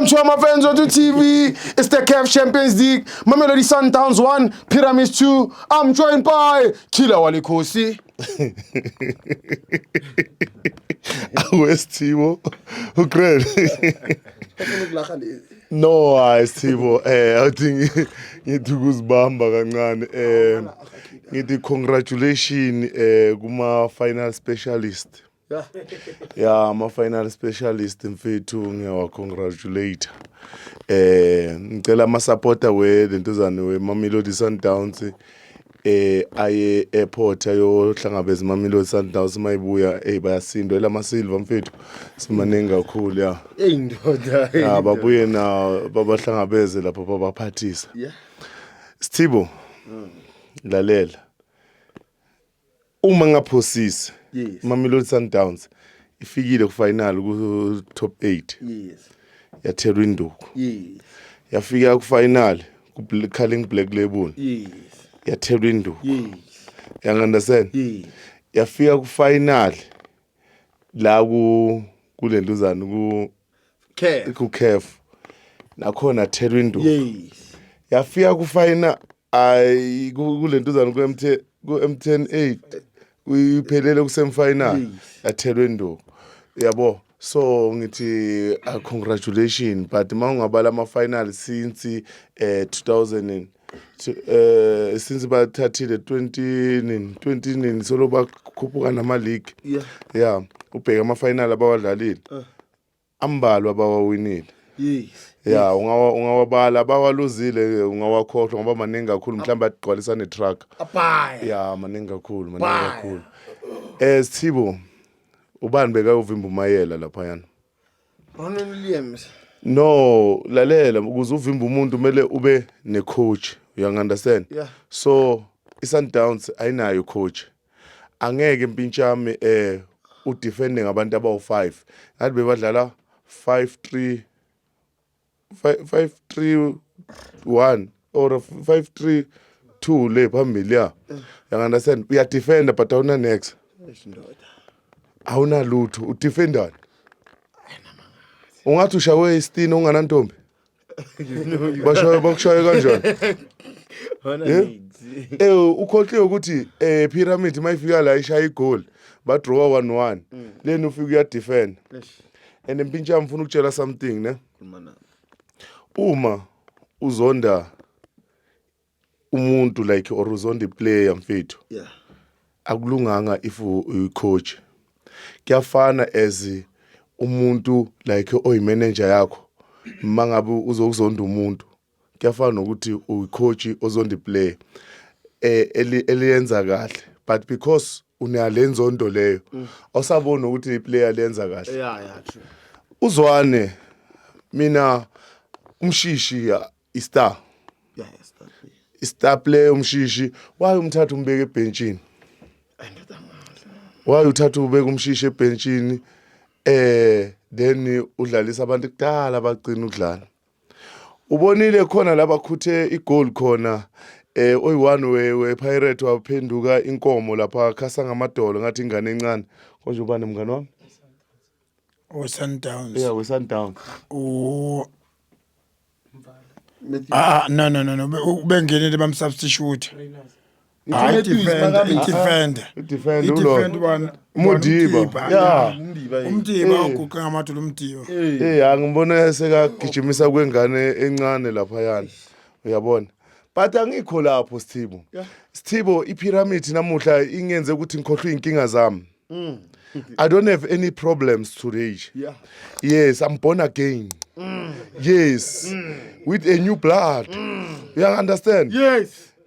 Mchoma fans wetu TV, it's the CAF Champions League, Mamelodi Sundowns 1, Pyramids 2. I'm joined by Kila Walikosi. awesithibo ugrel no hayi sithibo eh awuthi ngithi ukuzibamba kancane eh ngithi congratulation eh kuma final specialist ya ama-final specialist mfethu ngiyawacongratulate eh ngicela amasapota welentuzane wemamelodi sundowns eh aye airport ayohlangabeza imamelodi sundowns uma ibuya eyi bayasindwa elamasilva mfethu simaningi kakhulu ya eyi ndoda eyi ya babuye na babahlangabeze lapho babaphathisa Yeah. sithibo lalela Uma ngaphosisi yes. Mamelodi Sundowns ifikile kufinal ku top 8 yes. yathelwa induku yes. yafika kufinal kuCarling Black Label yes. yathelwa induku yes. you understand yes. yafika kufinal la ku kulenduzana ku care ku care nakhona thelwa induku yes yafika ku final ay kulenduzana ku MT ku M10 8 uyiphelele ku semi final yathelwa induku yabo so ngithi uh, congratulations but mawungabala ama final since uh, eh, 2000 to, uh, since bathathile 20 20 solo bakhuphuka nama league yeah yeah ubheka ama final abawadlalile uh. ambalwa abawawinile yes ya ungawa ungawabala bawaluzile ungawakhohlwa ngoba maningi kakhulu mhlawumbe agqwalisa ne truck abaya ya maningi kakhulu maningi kakhulu eh sithibo ubani bekayovimba umayela lapha yana Ronald Williams no lalela ukuze uvimbe umuntu kumele ube ne coach you understand yeah. so iSundowns ayinayo coach angeke impintshami eh udefende ngabantu abawu5 ngathi bebadlala 5 3 531 or 532 le phambili ya you understand uya defender but awuna next awuna lutho u defender ungathi ushawe isitini unganantombi bashaye bakushaye kanjani eh ukhohliwe ukuthi eh pyramid mayifika la ishaya igoli ba draw 1-1 leni ufika uya defend and mpintsha ngifuna ukutshela something ne uma uzonda umuntu like or uzonda iplayer mfethu yeah akulunganga if uyicoach kuyafana as umuntu like oyimanager yakho mangabe uzokuzonda umuntu kuyafana nokuthi uyicoach ozonda iplayer eh eliyenza kahle but because unalenzondo leyo mm. awusabona ukuthi iplayer lenza kahle yeah yeah true uzwane mina umshishi istar yeah istar istar player umshishi why umthatha umbeke ebhenchini why uthatha ubeka umshishi ebhenchini eh then udlalisa abantu kudala bagcina ukudlala ubonile khona laba khuthe igoal khona eh oyi-one we-pirate waphenduka inkomo lapha khasa ngamadolo ngathi ingane encane konje ubani mngane wami we-sundowns yeah we-sundowns Ah, ah no no no no bengenele bamsubstitute Hayi defender, defender. Defender ulo. Defender bani? Mudiba. Yeah. Umdiba. Umdiba uguqe ngamadolo umdiba. Eh, angimbona sekagijimisa kwengane encane lapha yana. Uyabona? But angikho lapho Sthibo. Sthibo ipyramid namuhla ingenze ukuthi ngikhohlwe inkinga zami. Mm. I don't have any problems today. Yeah. Yes, I'm born again. Mm. Yes. Mm. With a new blood. Mm. You understand? Yes.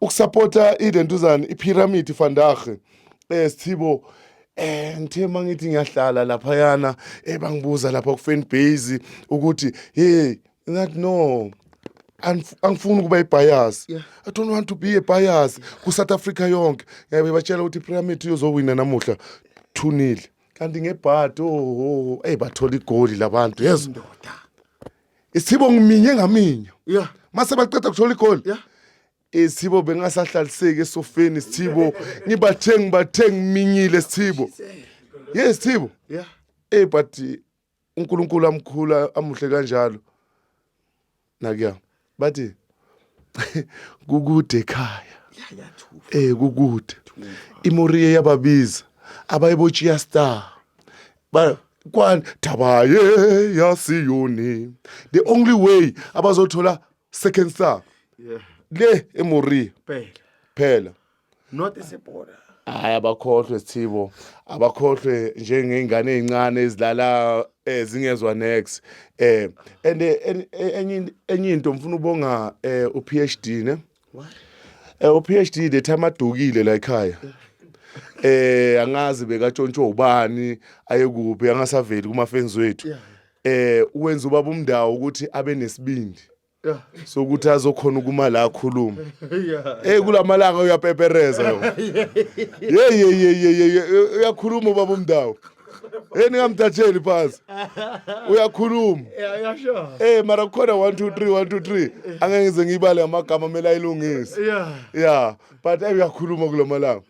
ukusapota identuzane iphiramidi fandahe um eh, sithibo eh ngithe mangithi ngiyahlala lapha yana ebangibuza eh, lapha ku fan base ukuthi hey ngathi no angifuni ukuba ibias yeah. i don't want to be a bias ku south africa yonke ngiyabe batshela ukuthi pyramid uyozowina namuhla thunile kanti ngebhadi oho oh, oh, oh. eyi bathola igoli labantu yezo isithibo ngiminye ngaminye yeah mase baqeda kuthola igoli yeah isithibo bengasahlaliseki esofeni isithibo ngibathe ngibathe ngiminyile isithibo yes isithibo yeah eh but uNkulunkulu amkhula amuhle kanjalo nakuya bathi kukude ekhaya eh kukude imoriye yababiza abayebochiya star Ba- kwani thaba ye yasiyoni the only way abazothola second star Yeah. le emoria Phela. phela Not isibhola. hayi abakhohlwe sithibo abakhohlwe njengey'ngane ey'ncane ezilala eh, zingezwa next eh and eh, en- eh, enye in- enye into ngifuna ubonga eh, u-phd ne Eh uPhD the time adukile la ekhaya. Eh angazi bekatshontsho ubani ayekuphi angasaveli kuma fans wethu. Eh uwenza ubaba umndawo ukuthi abe nesibindi. Yeah. So ukuthi azokhona ukuma la akhuluma. Yeah. Eh kulamalanga uyapepereza lo. Hey hey hey uyakhuluma ubaba umndawo. hey ningamthatheli phansi uyakhuluma hey mara kukhona 1 2 3 1 2 3 angeke ngize ngiyibale ngamagama kumele ayilungise ya but uyakhuluma kula malanga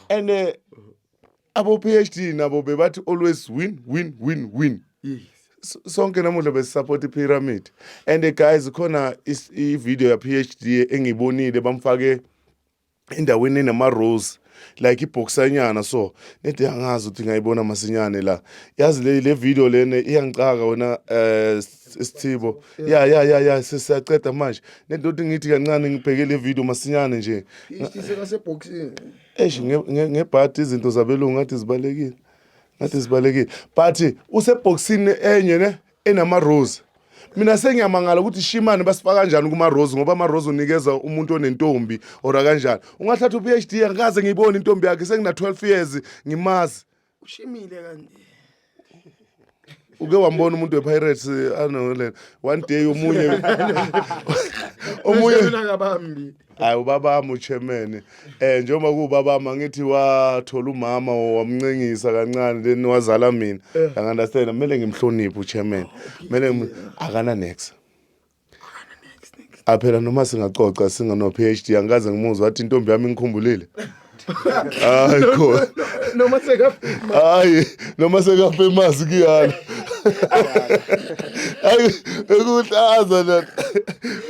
and eh, abo PhD nabo bebathi always win win win win sonke namuhla besisupport ipyramid and eh, guys khona ivideo ya PhD engiyibonile bamfake endaweni enama-rose like ibhoksanyana so nede angazi ukuthi ngayibona masinyane la yazi le, le video lena iyangicaka wena um isithibo ya ya ya ya sesiyaceda manje nede ukuthi ngithi kancane ngibheke le video masinyane nje eish ngebhadi izinto zabelungu ngathi zibalekile ngathi zibalekile but usebhokisini enye ne enama rose mina sengiyamangala ukuthi shimane basifaka kanjani kuma rose ngoba ama rose unikeza umuntu onentombi or kanjani ungathatha u PhD angikaze ngiyibone intombi yakhe sengina 12 years ngimazi ushimile kanti uke wambona umuntu wePirates eh, anolela one day omunye omunye Mina ngabambi hayi ubabami uchemene um njengoba kuwubabami angithi wathola umama wamncengisa kancane then wazala mina eh. angi-understand kumele ngimhloniphe uchemene oh, kumele akananexa aphela noma singacoca singano-p h d angikaze ngimuzwa wathi intombi yami ingikhumbulile hayi khona noma sekafika hayi noma sekafa emazi kuyala hayi ekuhlaza la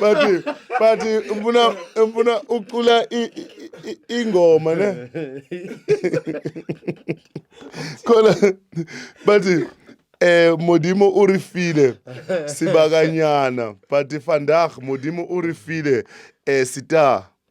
bathi bathi ngifuna ngifuna ucula i- i- i- ingoma ne khona bathi eh modimo o re file sebakanyana but vandag modimo o re file eh star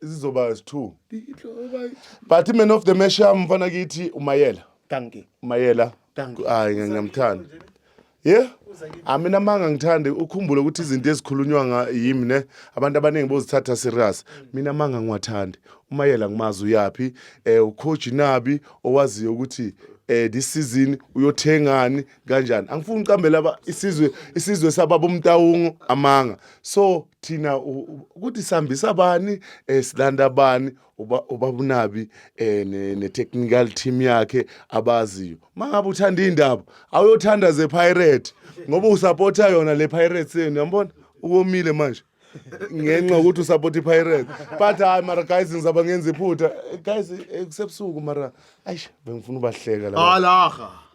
zizoba zi-two but man of the match yami mfana kithi umayela danki umayela Danki. hayi ngiya- ngiyamthanda ye amina amanga ngithande ukhumbule ukuthi izinto ezikhulunywa nga- yimi ne abantu abaningi bozithatha serious mina amanga ngiwathandi umayela ngimazi uyaphi um ucoach nabi owaziyo ukuthi um this season uyothengani kanjani angifuni uqambela aba- isizwe isizwe sababa umtawungu amanga so thina ukuthi sihambisa bani um silanda bani ubabunabi um eh, ne-technical team yakhe abaziyo uma ngabe uthanda iy'ndaba awuyothanda ze-pirate ngoba usapotha yona le pirates yenu yambona ukomile manje ngenxa ukuthi usapota i-pirate but hayi mara guys ngizaba ngenza iphutha guys eh, kusebusuku mara ayi bengifuna ubahleka la alaha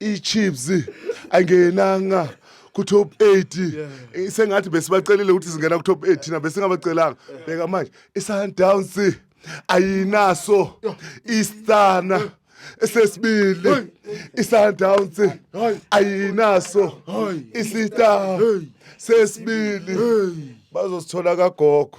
iChiefs angenanga ku top 8 yeah. Eh, sengathi besibacelile ukuthi singena ku top 8 thina besingabacelanga yeah. bheka manje iSundowns ayinaso iStana yeah. esesibili iSundowns ayinaso isita sesibili bazosithola kagogo